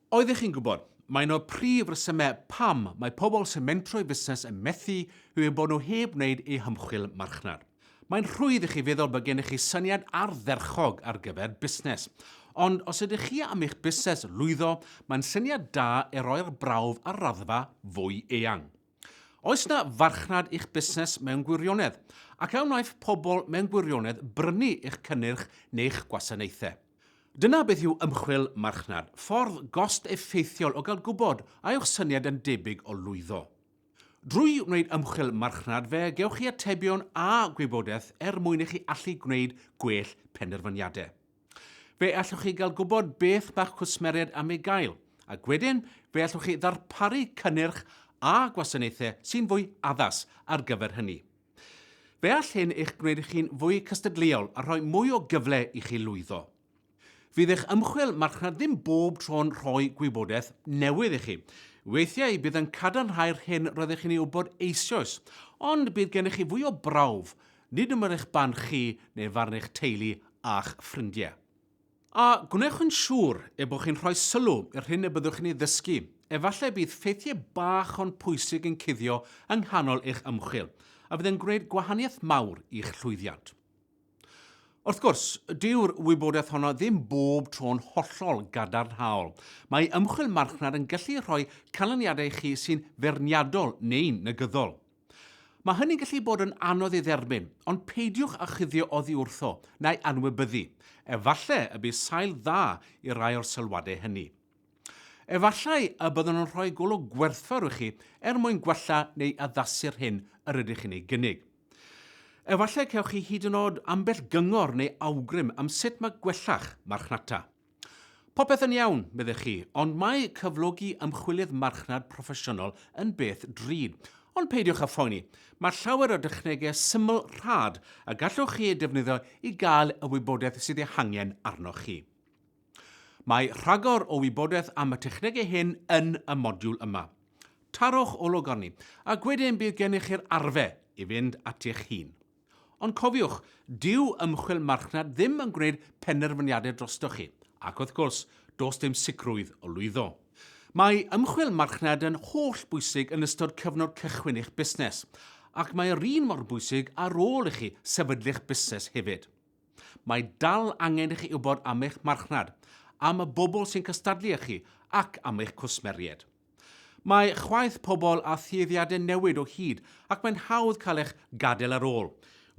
Oeddech chi'n gwybod, mae un o'r prif resymau pam mae pobl sy'n mentro'i fusnes yn methu yw eu bod nhw heb wneud eu hymchwil marchnad. Mae'n rhwydd i chi feddwl bod gennych chi syniad ardderchog ar gyfer busnes, ond os ydych chi am i'ch busnes lwyddo, mae'n syniad da ei roi'r brawf ar raddfa fwy eang. Oes yna farchnad i'ch busnes mewn gwirionedd, ac a wnaiff pobl mewn gwirionedd brynu eich cynnyrch neu'ch gwasanaethau? Dyna beth yw ymchwil marchnad, ffordd gost effeithiol o gael gwybod a yw'ch syniad yn debyg o lwyddo. Drwy wneud ymchwil marchnad fe gewch chi atebion a gwybodaeth er mwyn i chi allu gwneud gwell penderfyniadau. Fe allwch chi gael gwybod beth mae'ch cwsmeriaid am ei gael, ac wedyn fe allwch chi ddarparu cynnyrch a gwasanaethau sy'n fwy addas ar gyfer hynny. Fe all hyn eich gwneud i chi'n fwy cystadleuol a rhoi mwy o gyfle i chi lwyddo. Fydd eich ymchwil marchnad ddim bob tro'n rhoi gwybodaeth newydd i chi. Weithiau bydd yn cadarnhau'r hyn roeddech chi'n ei wybod eisoes, ond bydd gennych chi fwy o brawf, nid ym mryd eich barn chi neu farn eich teulu a'ch ffrindiau. A gwnewch yn siŵr eu bod chi'n rhoi sylw i'r hyn y byddwch chi'n ei ddysgu. Efallai y bydd ffeithiau bach ond pwysig yn cuddio yng nghanol eich ymchwil, a fydd yn gwneud gwahaniaeth mawr i'ch llwyddiant. Wrth gwrs, dyw'r wybodaeth honno ddim bob tro'n hollol gadarnhaol. Mae ymchwil marchnad yn gallu rhoi canlyniadau i chi sy'n feirniadol neu'n negyddol. Mae hynny'n gallu bod yn anodd ei dderbyn, ond peidiwch â chuddio oddi wrtho, na'i anwybyddu. Efallai y bydd sail dda i rai o'r sylwadau hynny. Efallai y byddwn yn rhoi golwg gwerthfawr i chi er mwyn gwella neu addasu'r hyn yr ydych chi'n ei gynnig. Efallai cewch chi hyd yn oed ambell gyngor neu awgrym am sut mae gwella'ch marchnata. Popeth yn iawn, meddech chi, ond mae cyflogi ymchwilydd marchnad proffesiynol yn beth drud. Ond peidiwch â phoeni, mae llawer o dechnegau syml rhad y gallwch chi eu defnyddio i gael y wybodaeth sydd ei hangen arnoch chi. Mae rhagor o wybodaeth am y technegau hyn yn y modiwl yma. Tarwch olwg arni, ac wedyn bydd gennych chi'r arfe i fynd ati'ch hun. Ond cofiwch, dyw ymchwil marchnad ddim yn gwneud penderfyniadau drostoch chi, ac wrth gwrs, does dim sicrwydd o lwyddo. Mae ymchwil marchnad yn holl bwysig yn ystod cyfnod cychwyn eich busnes, ac mae yr un mor bwysig ar ôl i chi sefydlu'ch busnes hefyd. Mae dal angen i chi wybod am eich marchnad, am y bobl sy'n cystadlu â chi, ac am eich cwsmeriaid. Mae chwaeth pobl a thueddiadau newid o hyd ac mae'n hawdd cael eich gadael ar ôl.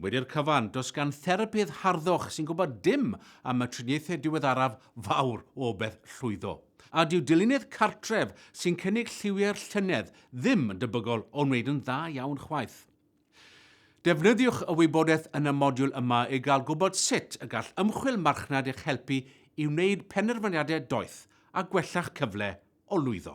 Wedi'r cyfan, does gan therapydd harddwch sy'n gwybod dim am y triniaethau diweddaraf fawr o obaith llwyddo. A dyw dilyniad cartref sy'n cynnig lliwiau'r llynedd ddim yn debygol o wneud yn dda iawn chwaith. Defnyddiwch y wybodaeth yn y modiwl yma i gael gwybod sut y gall ymchwil marchnad eich helpu i wneud penderfyniadau doeth a gwella'ch cyfle o lwyddo.